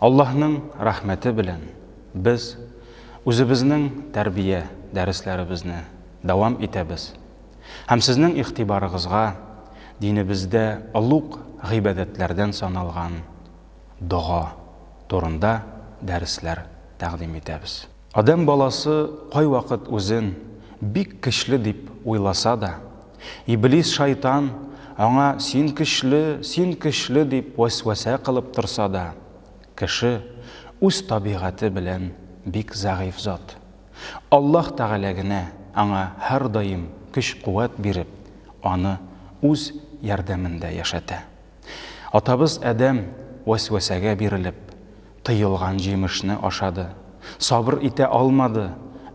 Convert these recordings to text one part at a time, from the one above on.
Аллаһның рәхмәте белән без үзебезнең тәрбия дәресләребезне дәвам итәбез һәм сезнең игътибарыгызга динебездә олуг гыйбадәтләрдән саналган дога турында дәресләр тәкъдим итәбез. Адәм баласы кайвакыт үзен бик көчле дип уйласа да, Иблис шайтан аңа син көчле, син көчле дип вәсвәсә кылып торса да, кеше үз табигате белән бик зәгыйфь зат. Аллаһ Тәгалә генә аңа һәрдаим көч-куәт биреп, аны үз ярдәмендә яшәтә. Атабыз Адәм вәсвәсәгә бирелеп, Тыелган җимешне ашады. Сабыр итә алмады,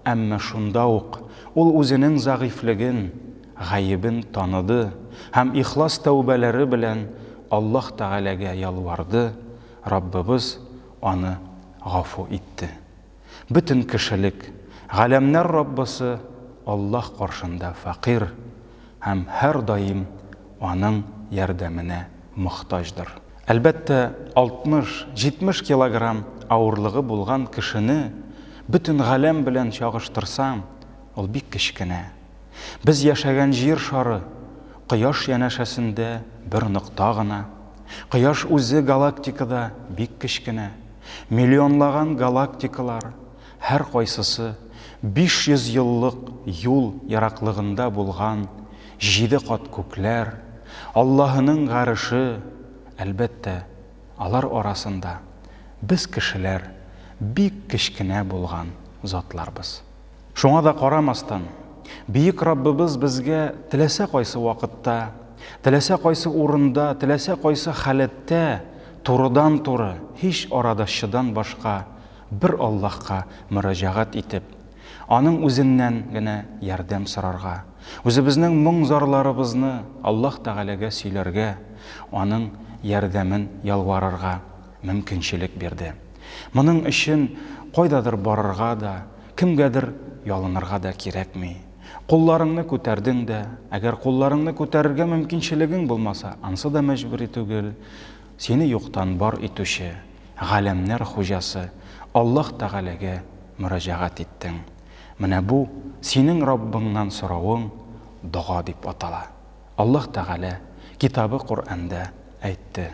әмма шунда ук ул үзенең зәгыйфьлеген, гаебен таныды һәм ихлас тәүбәләре белән Аллаһ Тәгаләгә ялварды, Раббыбыз аны гафу итте. Бөтен кешелек, галәмнәр Раббысы Аллаһ каршында фәкыйрь һәм һәрдаим Аның ярдәменә мохтаҗдыр. Әлбәттә, 60-70 килограмм авырлыгы булган кешене бөтен галәм белән чагыштырсаң, ул бик кечкенә. Без яшәгән Җир шары Кояш янәшәсендә бер нокта гына. Кояш үзе галактикада бик кечкенә. Миллионлаган галактикалар, һәркайсысы 500 еллык юл ераклыгында булган җиде кат күкләр, Аллаһының гареше, әлбәттә, алар арасында без кешеләр бик кечкенә булган затларбыз. Шуңа да карамастан, Бөек Раббыбыз безгә теләсә кайсы вакытта, теләсә кайсы урында, теләсә кайсы халәттә турыдан-туры, һич арадашчыдан башка бер Аллаһка мөрәҗәгать итеп, Аның Үзеннән генә ярдәм сорарга, үзебезнең моң-зарларыбызны Аллаһ Тәгаләгә сөйләргә, Аның ярдәмен ялварырга, мөмкинчелек бирде. Моның өчен кайдадыр барырга да, кемгәдер ялынырга да кирәкми. Кулларыңны күтәрдең дә, әгәр кулларыңны күтәрергә мөмкинчелегең булмаса, ансы да мәҗбүри түгел, сине юктан бар итүче, галәмнәр хуҗасы Аллаһ Тәгаләгә мөрәҗәгать иттең. Менә бу синең Раббыңнан соравың дога дип атала. Аллаһ Тәгалә Китабы Коръәндә әйтте.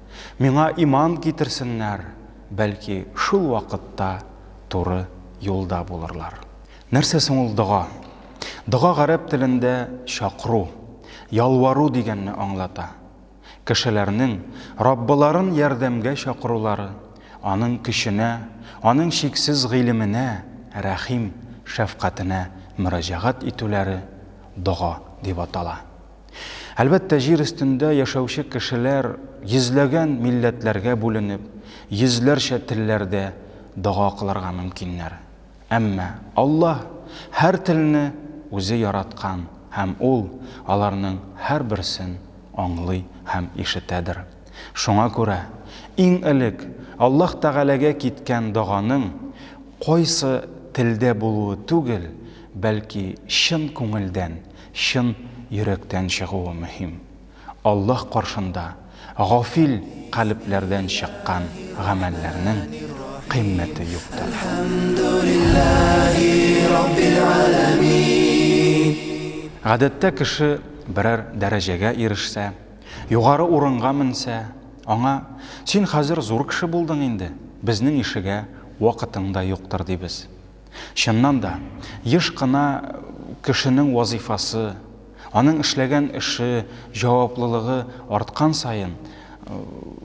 Миңа иман китерсеннәр, бәлки, шул вакытта туры юлда булырлар. Нәрсә соң ул дога? Дога гарәп телендә чакыру, ялвару дигәнне аңлата. Кешеләрнең Раббыларын ярдәмгә чакырулары, Аның көченә, Аның чиксез гыйлеменә, рәхим, шәфкатенә мөрәҗәгать итүләре дога дип атала. Әлбәттә, җир өстендә яшәүче кешеләр йөзләгән милләтләргә бүленеп, йөзләрчә телләрдә дога кылырга мөмкиннәр. Әмма Аллаһ һәр телне үзе яраткан һәм Ул аларның һәрберсен аңлый һәм ишетәдер. Шуңа күрә, иң элек Аллаһ Тәгаләгә киткән доганың кайсы телдә булуы түгел, бәлки чын күңелдән, Чын йөрәктән чыгуы мөһим. Аллаһ каршында гафил калебләрдән чыккан гамәлләрнең кыйммәте юктыр. Гадәттә кеше берәр дәрәҗәгә ирешсә, югары урынга менсә, аңа, Син хәзер зур кеше булдың инде, безнең ишегә вакытың да юктыр, дибез. Чыннан да, еш кына кешенең вазыйфасы, аның эшләгән эше, җаваплылыгы арткан саен,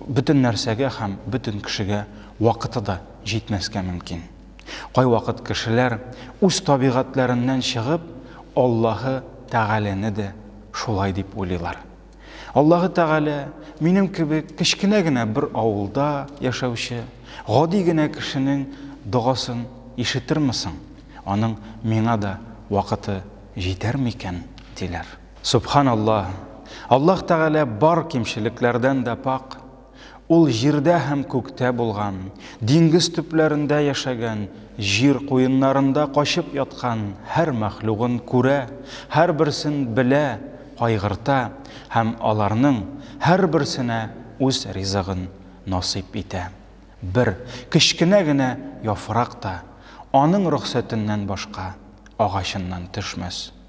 бөтен нәрсәгә һәм бөтен кешегә вакыты да җитмәскә мөмкин. Кайвакыт кешеләр, үз табигатьләреннән чыгып, Аллаһы Тәгаләне дә шулай дип уйлыйлар. Аллаһы Тәгалә минем кебек кечкенә генә бер авылда яшәүче гади генә кешенең догасын ишетерме соң? Аның миңа да вакыты җитәр микән? диләр. Сөбханаллаһ! Аллаһ Тәгалә бар кимчелекләрдән дә пакъ. Ул җирдә һәм күктә булган, диңгез төпләрендә яшәгән, җир куеннарында качып яткан һәр мәхлугын күрә, һәрберсен белә, кайгырта һәм аларның һәрберсенә үз ризыгын насыйп итә. Бер кечкенә генә яфрак та Аның рөхсәтеннән башка агачыннан төшмәс.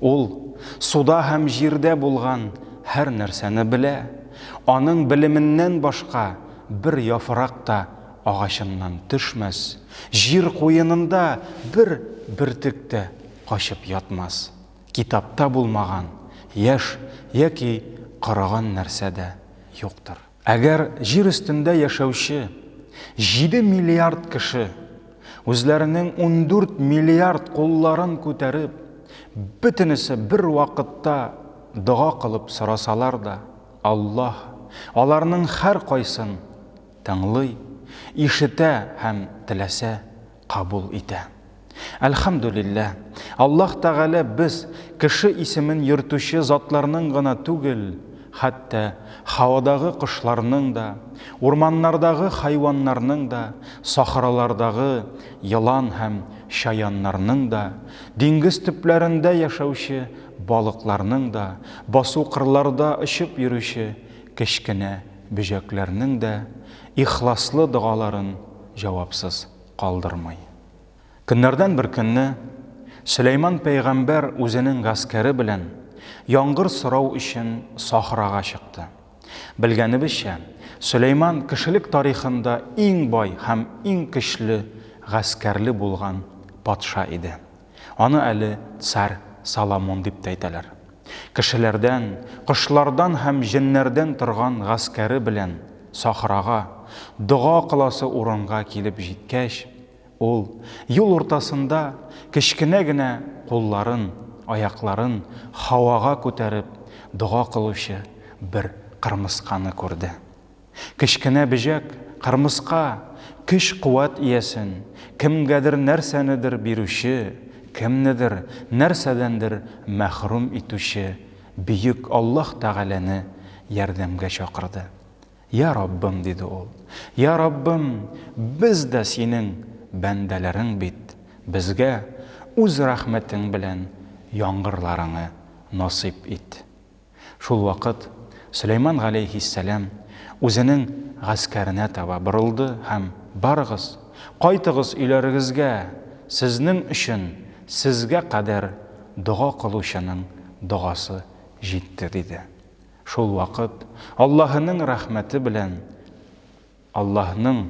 Ул суда һәм җирдә булган һәр нәрсәне белә, аның белеменнән башка бер яфрак та агачыннан төшмәс, җир куенында бер бөртек тә качып ятмас, китапта булмаган яшь яки корыган нәрсә дә юктыр. Әгәр Җир өстендә яшәүче җиде миллиард кеше үзләренең ундүрт миллиард кулларын күтәреп, бөтенесе бервакытта дога кылып сорасалар да, Аллаһ аларның һәркайсын тыңлый, ишетә һәм теләсә кабул итә. Әлхәмдүлилләһ, Аллаһ Тәгалә без, кеше исемен йөртүче затларның гына түгел, хәтта һавадагы кошларның да, урманнардагы хайваннарның да, сахралардагы елан һәм чаяннарның да, диңгез төпләрендә яшәүче балыкларның да, басу-кырларда очып йөрүче кечкенә бөҗәкләрнең дә ихласлы догаларын җавапсыз калдырмый. Көннәрдән бер көнне Сөләйман пәйгамбәр үзенең гаскәре белән яңгыр сорау өчен сахрага чыкты. Белгәнебезчә, Сөләйман кешелек тарихында иң бай һәм иң көчле гаскәрле булган патша иде. Аны әле царь Соломон дип тә әйтәләр. Кешеләрдән, кошлардан һәм җеннәрдән торган гаскәре белән сахрага, дога кыласы урынга килеп җиткәч, ул, юл уртасында, кечкенә генә кулларын, аякларын һавага күтәреп дога кылучы бер кырмысканы күрде. Кечкенә бөҗәк, кырмыска, көч-куәт иясен, кемгәдер нәрсәнедер бирүче, кемнедер нәрсәдәндер мәхрүм итүче Бөек Аллаһ Тәгаләне ярдәмгә чакырды. Йа Раббым, диде ул, йа Раббым, без дә Синең бәндәләрең бит, безгә Үз рәхмәтең белән яңгырларыңы насыйп ит. Шул вакыт Сөләйман галәйһиссәлам үзенең гаскәренә таба борылды һәм, Барыгыз, кайтыгыз өйләрегезгә, сезнең өчен сезгә кадәр дога кылучының догасы җитте, диде. Шул вакыт Аллаһының рәхмәте белән. Аллаһның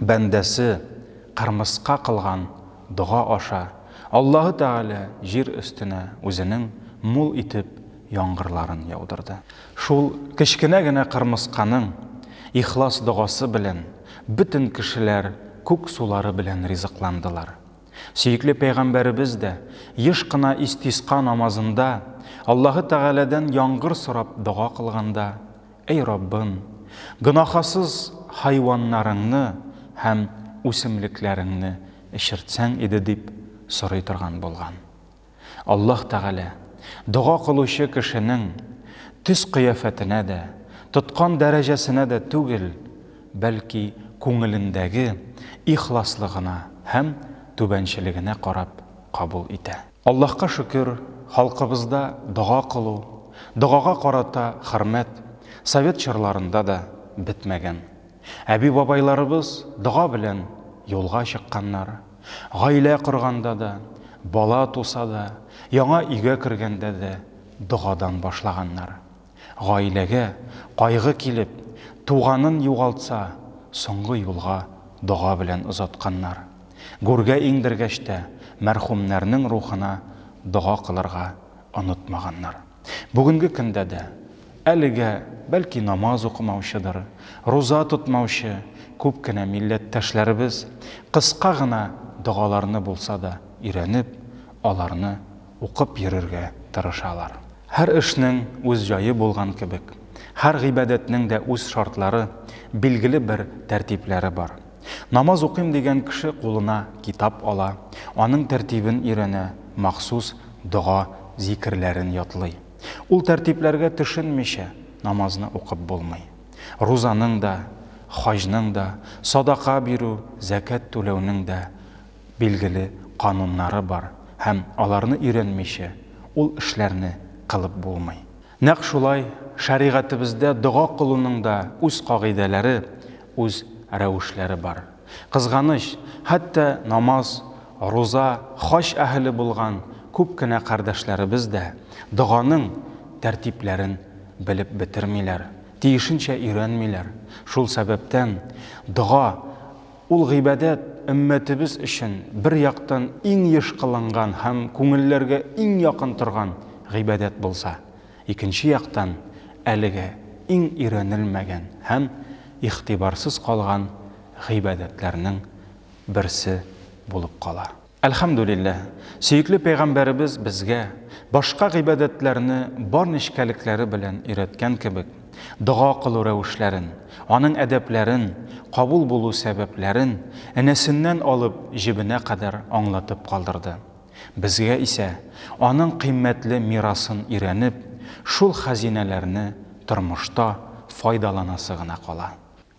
бәндәсе кырмыска кылган дога аша Аллаһы Тәгалә җир өстенә Үзенең мул итеп яңгырларын яудырды. Шул кечкенә генә кырмысканың ихлас догасы белән бөтен кешеләр күк сулары белән ризыкландылар. Сөекле пәйгамбәребез дә еш кына истиска намазында Аллаһы Тәгаләдән яңгыр сорап дога кылганда, Эй Раббым, гөнаһасыз хайваннарыңны һәм үсемлекләреңне эчертсәң иде, дип сорый торган булган. Аллаһ Тәгалә дога кылучы кешенең төс-кыяфәтенә дә, тоткан дәрәҗәсенә дә түгел, бәлки күңелендәге ихласлыгына һәм түбәнчелегенә карап кабул итә. Аллаһка шөкер, халкыбызда дога кылу, догага карата хөрмәт совет чорларында да бетмәгән. Әби-бабайларыбыз дога белән юлга чыкканнар. Гаилә корганда да, бала туса да, яңа өйгә кергәндә дә догадан башлаганнар. Гаиләгә кайгы килеп, туганын югалтса, соңгы юлга дога белән озатканнар. Гүргә иңдергәч тә, мәрхүмнәрнең рухына дога кылырга онытмаганнар. Бүгенге көндә дә, әлегә, бәлки, намаз укымаучыдыр, руза тотмаучы күп кенә милләттәшләребез кыска гына догаларны булса да өйрәнеп, аларны укып йөрергә тырышалар. Һәр эшнең үз җае булган кебек, һәр гыйбадәтнең дә үз шартлары, билгеле бер тәртипләре бар. Намаз укыйм дигән кеше кулына китап ала, аның тәртибен өйрәнә, махсус дога, зикерләрен ятлый. Ул тәртипләргә төшенмичә, намазны укып булмый. Рузаның да, хаҗның да, садака бирү, зәкят түләүнең дә билгеле кануннары бар һәм аларны өйрәнмичә ул эшләрне кылып булмый. Нәкъ шулай шәригатебездә дога кылуның да үз кагыйдәләре, үз рәвешләре бар. Кызганыч, хәтта намаз, руза, хаҗ әһеле булган күп кенә кардәшләребез дә доганың тәртипләрен белеп бетермиләр, тиешенчә өйрәнмиләр. Шул сәбәптән дога Ул гыйбадәт өммәтебез өчен бер яктан иң еш кылынган һәм күңелләргә иң якын торган гыйбадәт булса, икенче яктан, әлегә иң өйрәнелмәгән һәм игътибарсыз калган гыйбадәтләрнең берсе булып кала. Әлхәмдүлилләһ, сөекле пәйгамбәребез безгә, башка гыйбадәтләрне бар нечкәлекләре белән өйрәткән кебек, дога кылу рәвешләрен, аның әдәпләрен, кабул булу сәбәпләрен энәсеннән алып җебенә кадәр аңлатып калдырды. Безгә исә, аның кыйммәтле мирасын өйрәнеп, шул хәзинәләрне тормышта файдаланасы гына кала.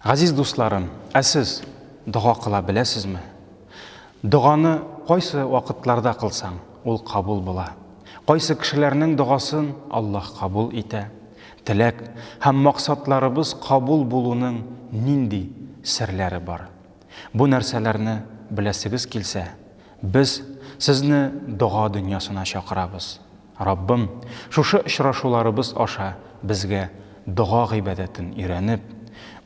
Газиз дусларым, ә сез дога кыла беләсезме? Доганы кайсы вакытларда кылсаң, ул кабул була. Кайсы кешеләрнең догасын Аллаһ кабул итә. Теләк һәм максатларыбыз кабул булуның нинди серләре бар? Бу нәрсәләрне беләсегез килсә, без сезне дога дөньясына чакырабыз. Раббым, шушы очрашуларыбыз аша безгә дога гыйбадәтен өйрәнеп,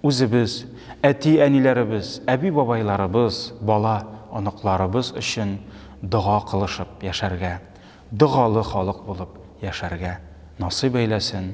үзебез, әти-әниләребез, әби-бабайларыбыз, бала, оныкларыбыз өчен дога кылышып яшәргә, догалы халык булып яшәргә насыйп әйләсен,